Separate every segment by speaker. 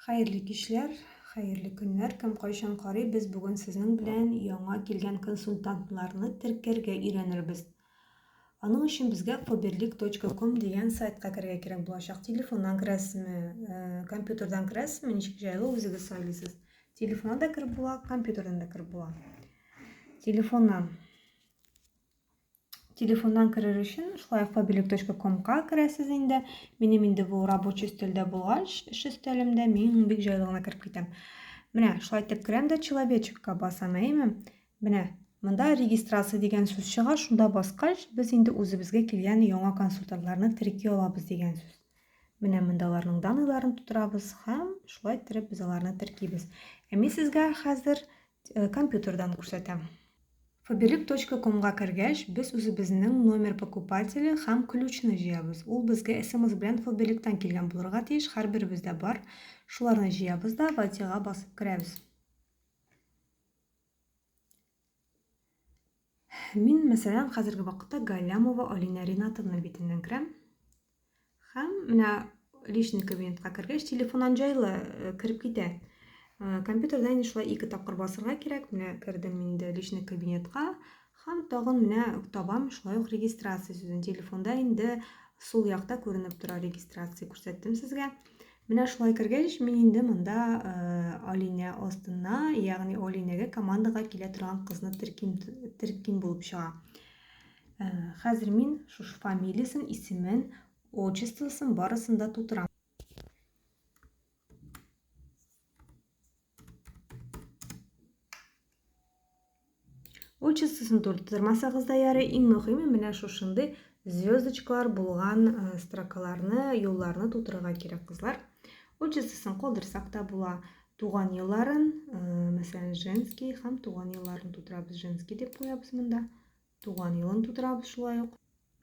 Speaker 1: Хәерле кичләр, хәерле көннәр, кем кайчан карый, без бүген сезнең белән яңа килгән консультантларны теркәргә өйрәнербез. Аның өчен безгә faberlic.com дигән сайтка керергә кирәк булачак. Телефоннан керәсезме, э, компьютердан керәсезме, ничек җайлы үзегез сайлыйсыз. Телефоннан да кереп була, компьютердан да кереп була. Телефоннан Телефоннан керер өчен шулай фабилек.комга керәсез инде. Минем инде бу рабочий өстәлдә булгач, эш өстәлемдә мин бик җайлы гына кереп китәм. Менә шулай итеп керәм дә человечекка басам, әйеме? Менә монда регистрация дигән сүз чыга, шунда баскач, без инде үзебезгә килгән яңа консультантларны терки алабыз дигән сүз. Менә монда аларның данныйларын тутырабыз һәм шулай иттереп без аларны теркибез. Ә мин сезгә хәзер Э, компьютердан күрсәтәм. Faberlic.com-га кергәч, без үзебезнең номер покупателе һәм ключны җыябыз. Ул безгә смс белән Faberlic-тан килгән булырга тиеш, һәрберебездә бар. Шуларны җыябыз да ватига басып керәбез. Мин, мәсәлән, хәзерге вакытта Галлямова Алинә Ринатовна битеннән керәм. Һәм менә личный кабинетка кергәч, телефоннан җайлы э, кереп китә. Э, компьютерда инде шулай ике тапкыр басырга кирәк. Менә кердем инде личный кабинетка һәм тагын менә табам шулай ук регистрация сүзен. Телефонда инде сул якта күренеп тора регистрация күрсәттем сезгә. Менә шулай кергәч, мин инде монда Алинә астына, ягъни Алинәгә командага килә торган кызны терким, терким булып чыга. Хәзер мин шушы фамилиясен, исемен, отчествосын барысын да тутырам. Очысысын турттырмасагыз да ярый, иң мөһиме менә шушындый звездочкалар булган э, строкаларны, юлларны тутырырга кирәк, кызлар. Очысысын калдырсак та була. Туган елларын, э, мәсәлән, женский һәм туган елларын тутырабыз. Женский дип куябыз монда. Туган елын тутырабыз шулай ук.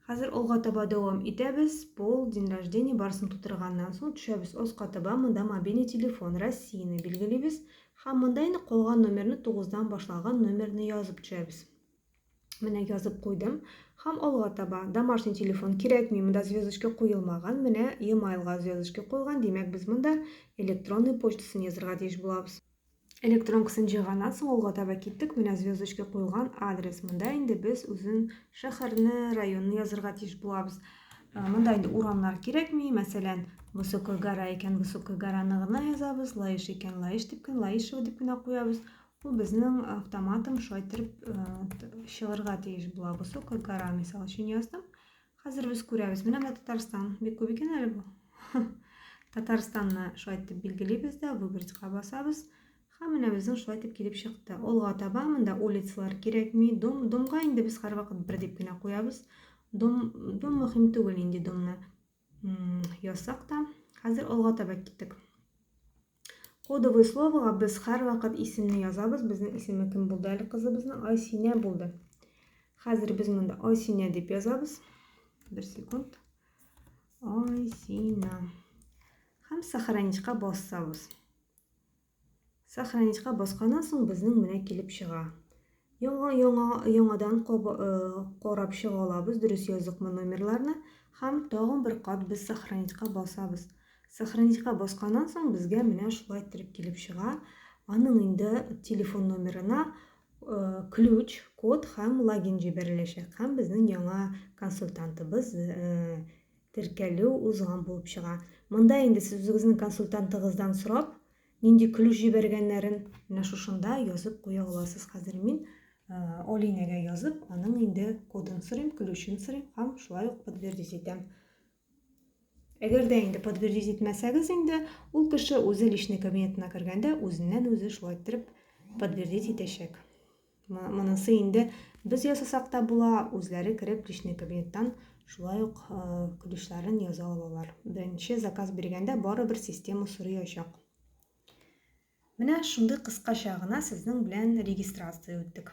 Speaker 1: Хәзер алга таба дәвам итәбез. Пол, день рождения барысын тутырганнан соң төшәбез аска таба, монда мобильный телефон, Россияне билгелибез һәм монда инде калган номерны 9-дан башлаган номерны язып төшәбез. Менә язып куйдым һәм алга таба домашний телефон кирәкми, монда звездочка куелмаган, менә e-mailга звездочка куелган, димәк без монда электронный почтасын язырга тиеш булабыз. Электрон кесен җыйганнан соң алга таба киттек. Менә звездочка куелган адрес. Монда инде без үзен шәһәрне, районны язырга тиеш булабыз. Монда инде урамнар кирәкми. Мәсәлән, Высокая гора икән, Высокая гораны гына язабыз. Лаеш икән, Лаеш дип кенә, Лаешево дип кенә куябыз. Ул безнең автоматом шайтырып чыгырга тиеш була. Высокая гора, мисал өчен яздым. Хәзер без күрәбез. Менә менә Татарстан. Бик күп икән әле бу. Татарстанны шулай итеп билгелибез дә, выбрать-ка басабыз. Һәм менә безнең шулай итеп килеп чыкты. Алга таба монда улицалар кирәкми. Дом, домга инде без һәрвакыт бер дип кенә куябыз. Дом, дом мөһим түгел инде домны ясак та. Хәзер алга таба киттек. Кодовый словога без һәрвакыт исемне язабыз. Безнең исеме кем булды әле кызыбызның? Айсинә булды. Хәзер без монда Айсинә дип язабыз. Бер секунд. Айсинә. Һәм сохраничка басабыз. Сохраничка басканнан соң безнең менә килеп чыга. Яңа яңа яңадан карап чыга алабыз, дөрес яздыкмы номерларны һәм тагын бер кат без сохранитька басабыз. Сохранитька басканнан соң безгә менә шулай иттереп килеп чыга. Аның инде телефон номерына э, ключ, код һәм логин җибәреләчәк һәм безнең яңа консультантыбыз э, теркәлү узган булып чыга. Монда инде сез үзегезнең консультантыгыздан сорап, Нинди ключ җибәргәннәрен менә шушында язып куя аласыз. Хәзер мин Олинәгә язып, аның инде кодын сорыйм, ключын сорыйм һәм шулай ук подтвердить итәм. Әгәр дә инде подтвердить итмәсәгез инде, ул кеше үзе личный кабинетына кергәндә үзеннән үзе шулай иттереп подтвердить итәчәк. Монысы инде без ясасак та була, үзләре кереп личный кабинеттан шулай ук көлешләрен яза алалар. Беренче заказ биргәндә барыбер система сорый ачак. Менә шундый кыскача гына сезнең белән регистрация үттек.